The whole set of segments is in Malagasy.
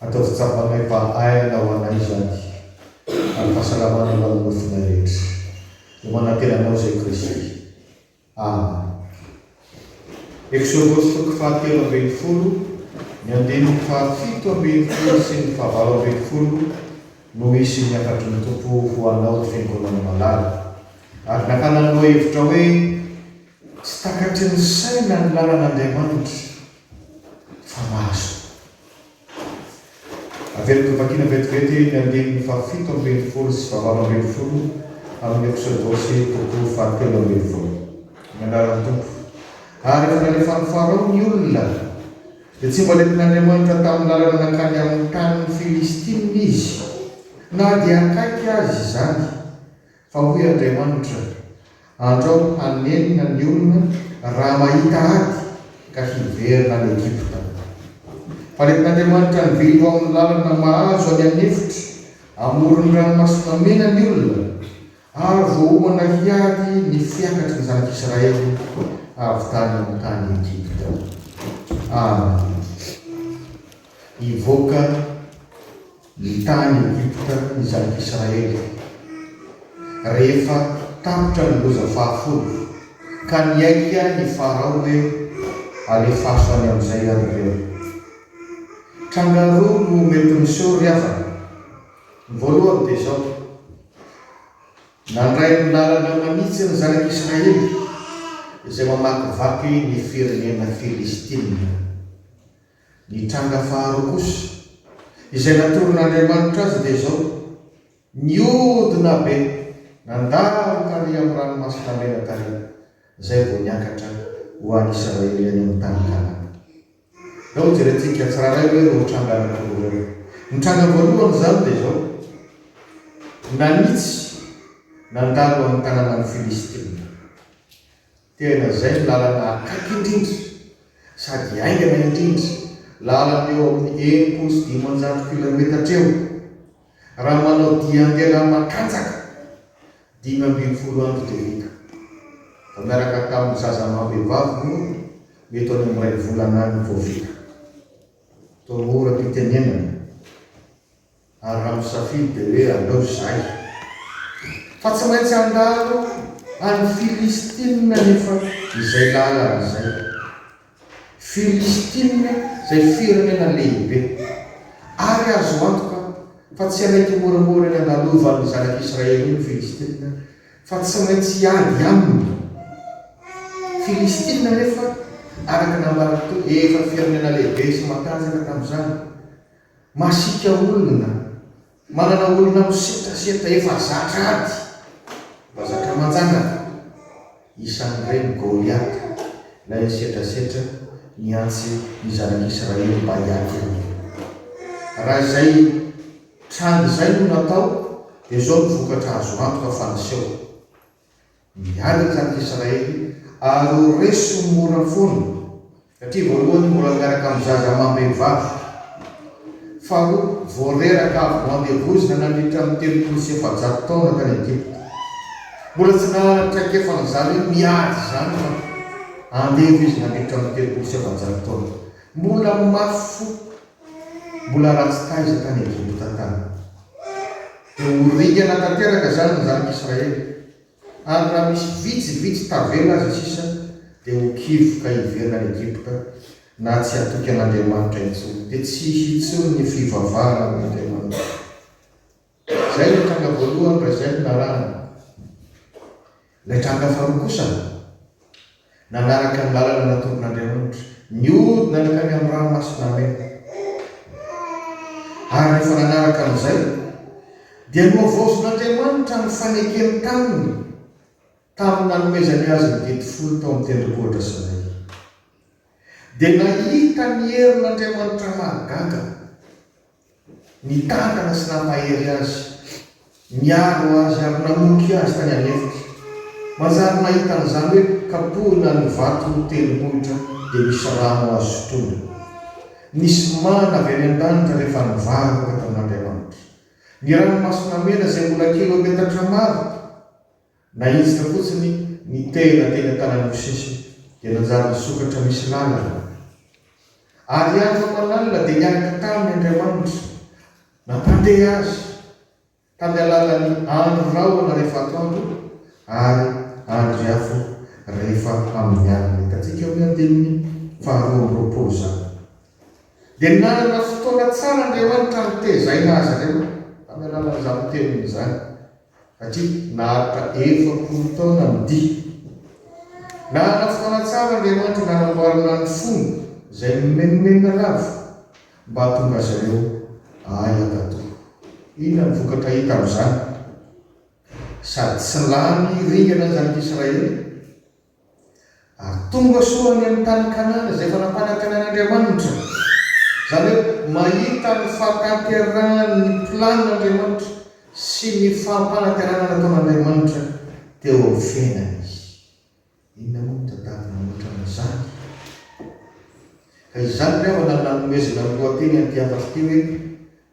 Ataovy tsapanay fa aina ho anay izany ary fahasalamana ho an'ny nofonay rehetra. Dia manantena anao izay Kristy. Amen. Eksodosy toko fahatelo ambin'ny folo, ny andininy fahafito ambin'ny folo sy ny fahavalo ambin'ny folo no hisy ny hafatry ny Tompo ho anao ry Fiangonan'i Malala. Ary nakana ny lohahevitra hoe Tsy takatry ny saina ny lalan'Andriamanitra. fa mahazo. Averiko vakiana vetivety ny andininy fahafito ambin'ny folo sy fahavalo ambin'ny folo amin'ny Eksodosy, toko fahatelo ambin'ny folo. Ny anaran'ny Tompo. Ary rehefa nalefan'i Farao ny olona, dia tsy mbola nentin'Andriamanitra tamin'ny lalana nankany amin'ny tanin'ny Filistina izy, na dia akaiky aza izany. Fa hoy Andriamanitra, Andro aho hanenina ny olona raha mahita ady ka hiverina any Egypta. Fa nentin'Andriamanitra nivily ho amin'ny lalana mahazo any an'efitra amoron'ny Ranomasina Mena ny olona, ary voaomana hiady ny fiakatry ny zanak'Israely avy tany amin'ny tany Egypta. Amen. Hivoaka Ny tany Egypta ny zanak'Israely, rehefa tapitra ny loza fahafolo, ka niaiky ny Farao hoe, Alefaso any amin'izay ianareo. Tranga roa no mety miseho ry havana. Ny voalohany dia izao, Nandray ny lalana manitsy ny zanak'Israely, izay mamakivaky ny firenena Filistina. Ny tranga faharoa kosa, izay natoron'Andriamanitra azy dia izao, Nihodina be, nandalo tary amin'ny Ranomasina Mena tary, izay vao niakatra ho an'ny Israely any amin'ny tany Kanana. Izao jerentsika tsirairay hoe ireo tranga anankiroa ireo. Ny tranga voalohany izany dia izao, Nanitsy, nandalo amin'ny tanànan'ny Filistina. Tena izay no lalana akaiky indrindra sady haingana indrindra, lalana eo amin'ny enimpolo sy dimanjato kilaometatra eo raha manao dia handeha raha makatsaka, dimy ambin'ny folo andro dia vita. Vao niaraka tamin'ny zaza amam-behivavy moa mety ho any amin'ny iray volana any vao vita. Toa mora am-pitenenana. Ary raha misafidy dia hoe aleo izay. Fa tsy maintsy handalo any Filistina anefa izay lalana izay. Filistina izay firenena lehibe. Ary azo antoka fa tsy hanaiky moramora ny handalovan'ny zanak'i Israely eo ny Filistina, fa tsy maintsy hiady aminy. Filistina anefa, araka ny nambaran'i Toky, efa firenena lehibe sy matanjaka tamin'izany. Masiaka olona, manana olona misetrasetra efa zatra ady, mba zatra manjanaka. Isan'ireny Goliata, ilay nisetrasetra nihantsy ny zanak'Israely mba hiady aminy. Raha izay tranga izay no natao, dia izao no vokatra azo antoka fa niseho. Miaraka ny Israely ary ho reso mora foana satria voalohany mbola miaraka amin'ny zaza amam-behivavy, faharoa vao reraka avy noandevoizina nandritra ny telopolo sy efajato taona tany Egypta. Mbola tsy nanana traikefa an'izany hoe miady izany fa andevo izy nandritra ny telopolo sy efajato taona. Mbola mafy fo Mbola ratsy taiza tany Ejopta tany. Dia ho ringana tanteraka izany ny zanak'Israely. Ary raha misy vitsivitsy tavela aza sisa, dia ho kivy ka hiverina any Ejipta, na tsy hatoky an'Andriamanitra intsony. Dia tsy hisy intsony ny fivavahana amin'Andriamanitra. Izay ilay tranga voalohany raha izay no lalàna. Ilay tranga faharoa kosa, nanaraka ny lalana natoron'Andriamanitra, nihodina nankany amin'ny ranomasina maina. Ary rehefa nanaraka an'izay, dia nohavaozin'Andriamanitra ny fanekeny taminy tamin'ny nanomezany azy ny didy folo tao amin'ny tendrombohitra Sinay. Dia nahita ny herin'Andriamanitra mahagaga. Nitantana sy nampahery azy, niaro azy ary namoky azy tany an-efitra. Manjary nahita an'izany hoe kapohina ny vato tendrombohitra dia misy rano azo sotroina. Nisy mana avy any an-danitra rehefa nivaroka tamin'Andriamanitra. Ny Ranomasina Mena izay mbola kilaometatra maro. Naiditra fotsiny ny tehina teny an-tanan'osisy dia nanjary nisokatra misy lalana. Ary andro aman'alina dia niaraka taminy Andriamanitra nampandeha azy tamin'ny alalan'ny andro rahona rehefa atoandro ary andro iafo rehefa amin'ny alina. Hitantsika amin'ny andininy faharoa amby roapolo izany. Dia nanana fotoana tsara Andriamanitra nitezaina azy ireo tamin'ny alalan'izany teniny izany. satria naharitra efapolo taona ny dihy. Nanana fotoana tsara Andriamanitra nanamboarana ny fony izay mimenomenona lava mba hahatonga azy ireo hahay hankatò. Inona no vokatra hita amin'izany? Sady tsy lany ringana ny zanak'Israely. Ary tonga soa any amin'ny tany Kanana izay efa nampanantenan'Andriamanitra. Izany hoe mahita ny fahatanterahan'ny planin'Andriamanitra sy ny fampanantenana nataon'Andriamanitra teo amin'ny fiainany izy. Inona moa no tadiaviny mihoatra izany? Ka izany ry havana no nanomezana ny lohateny an'ity hafatra ity hoe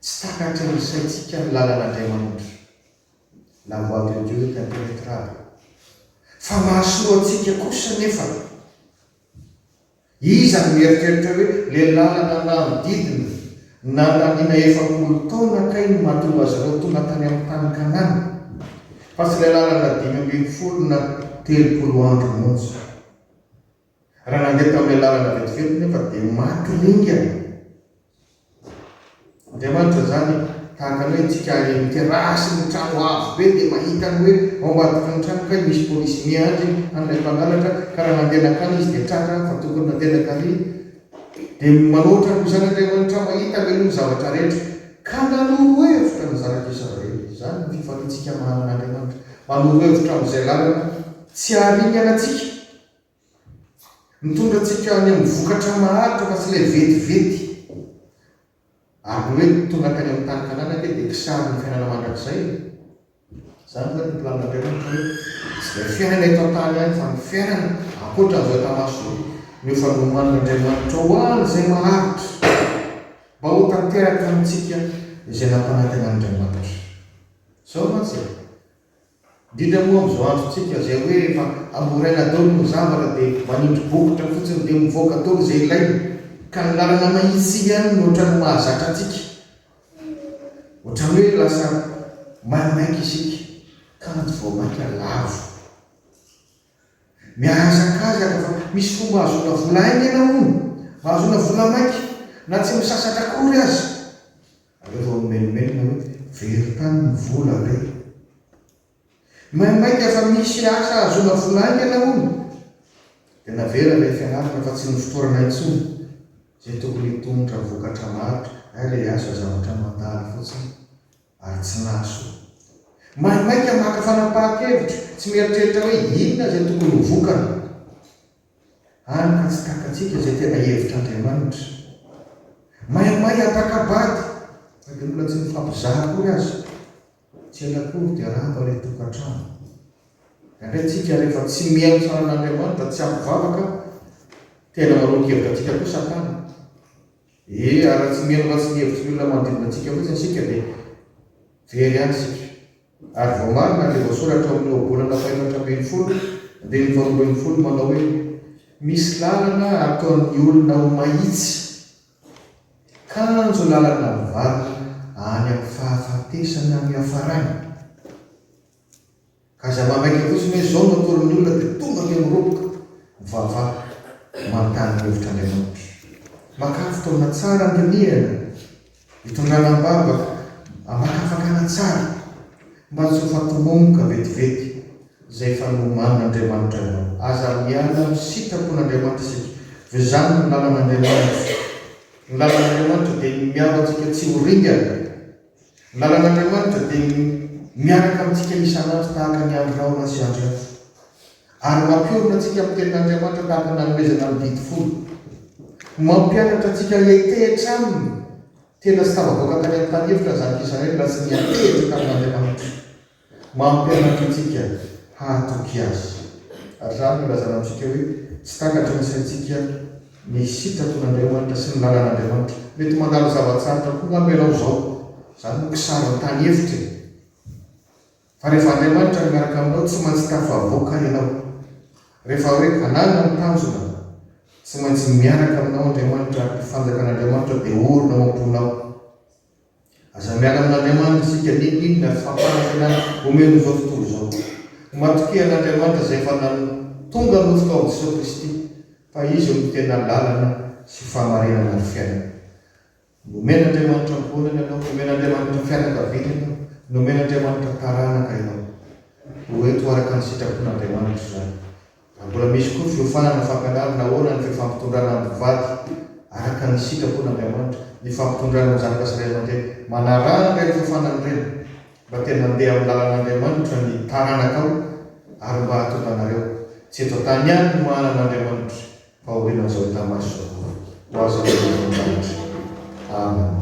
Tsy takatry ny saintsika ny lalan'Andriamanitra. La voix de Dieu t'impenetrable Fa mahasoa antsika kosa anefa Iza no mieritreritra hoe le lalana nanodidina nandaniana efapolo taona kay no mahatonga azy ireo tonga tany amin'ny tany Kanana fa tsy ilay lalana dimy ambin'ny folo na telopolo andro monja. Raha nandeha tamin'ilay lalana vetivety nefa dia maty ringana. Andriamanitra izany e, tahaka ny hoe antsika ireny terrasse-n'ny trano avo be dia mahita ny hoe ao ambadiky ny trano kay misy polisy miandry an'ilay mpangalatra ka raha nandeha nankany izy dia tratra fa tokony nandeha nankary dia manao ohatran'koa izany Andriamanitra mahita ve aloha ny zavatra rehetra ka nanoro hevitra ny zanaka Israely. Izany ny fifaliantsika manana Andriamanitra. Manoro hevitra amin'izay lalana tsy haringana antsika. Mitondra antsika any amin'ny vokatra maharitra fa tsy ilay vetivety. Ary ny hoe tonga tany amin'ny tany Kanana ange dia kisarin'ny fiainana mandrakizay e! Izany ve no planin'Andriamanitra hoe tsy ilay fiainana eto an-tany ihany fa ny fiainana ankoatra an'izao hita maso izao no efa nomanin'Andriamanitra ho an'izay maharitra mba ho tanteraka amintsika izay nampanantenan'Andriamanitra. Izao mantsy e! Indrindra moa amin'izao androntsika izay hoe efa hamoraina daolo ny zavatra dia manindry bokotra fotsiny dia mivoaka daolo izay ilaina ka ny lalana mahitsy ihany no otrany mahazatra antsika. Otrany hoe lasa maimaika isika kanjo vao maika lavo. Mihazakazaka fa misy fomba ahazoana vola haingana hono, ahazoana vola maika na tsy misasatra akory aza. Aleo vao mimenomenona hoe very tany ny vola re. Maimaika fa misy asa ahazoana vola haingana hono. Dia navela ilay fianarana fa tsy nofotorana intsony izay tokony hitondra vokatra maro ary ilay asa zavatra mandalo fotsiny. ary tsy nahasoa. Maimaika maka fanapahan-kevitra, tsy mieritreritra hoe inona izay tokony ho vokany. Hany ka tsy takatsika izay tena hevitr'Andriamanitra. Maimaika ampakabady, na dia mbola tsy mifampizara akory aza. Tsy ela akory dia rava ilay tokantrano. Indraindray tsika rehefa tsy mihaino ny saran'Andriamanitra, tsy ampy vavaka, tena manoloan-kevitra antsika koa Satana. Ee, ary raha tsy mihemoka sy mihevitry ny olona manodidina antsika fotsiny isika dia very ihany isika. Ary voamarina ilay voasoratra ao amin'ny Ohabolana fahenatra ambin'ny folo, andininy faharoa ambin'ny folo manao hoe, Misy lalana ataon'ny olona ho mahitsy, kanjo lalana mivarina any amin'ny fahafatesana ny hiafarany. Ka izay manaiky fotsiny hoe izao no atoron'ny olona dia tonga ilay miroboka mivavaha manontany ny hevitr'Andriamanitra. Makà fotoana tsara andinihana, itondrana am-bavaka, amakafakana tsara mba tsy ho fatomomboka vetivety izay efa nomanin'Andriamanitra anao. Aza miala amin'ny sitrapon'Andriamanitra isika fa izany no lalan'Andriamanitra. Ny lalan'Andriamanitra dia ny miaro antsika tsy ho ringana. Lalan'Andriamanitra dia miaraka amintsika isan'andro tahaka ny andro rahona sy andro hafa, ary mampiorina antsika amin'ny Tenin'Andriamanitra tahaka ny nanomezana amin'ny didy folo. Mampianatra antsika hiantehitra Aminy. Tena tsy tafavoaka tany amin'ny tany efitra ny zanak'Israela raha tsy niantehitra tamin'Andriamanitra. Mampianatra antsika hahatoky Azy. Hatramin'ny nilazana amintsika hoe tsy takatry ny saintsika ny sitrapon'Andriamanitra sy ny lalan'Andriamanitra, mety mandalo zava-tsarotra koa manko ianao izao. Izany no kisaran-tany efitra e! Fa rehefa Andriamanitra no miaraka aminao, tsy maintsy tafavoaka ianao. Rehefa hoe hananina ny tanjona, tsy maintsy miaraka aminao Andriamanitra ary ny Fanjakan'Andriamanitra dia orina ao am-ponao. Aza miala amin'Andriamanitra isika n'inon'inona ary fampanantenana omen'izao tontolo izao. Matokia an'Andriamanitra izay efa natonga nofo tao amin'i Jesoa Kristy fa Izy no tena lalana sy fahamarinana ary fiainana. Nomen'Andriamanitra ankohonana ianao, nomen'Andriamanitra fianakaviana ianao, nomen'Andriamanitra taranaka ianao. Ho eto araka ny sitrapon'Andriamanitra izany. Ary mbola misy koa ny fiofanana, fakana ady, na ahoana ny fifampitondrana amin'ny mpivady araka ny sitrapon'Andriamanitra. Ny fifampitondrana amin'ny zanaka sy ray aman-dreny. Manaraha an'ireny fiofanana ireny mba te mandeha amin'ny lalan'Andriamanitra ny taranakao ary mba hahatonga anareo tsy eto an-tany ihany no manana Andriamanitra fa aorianan'izao hita maso izao koa. Ho azy ny glory ao an-danitra. Amen.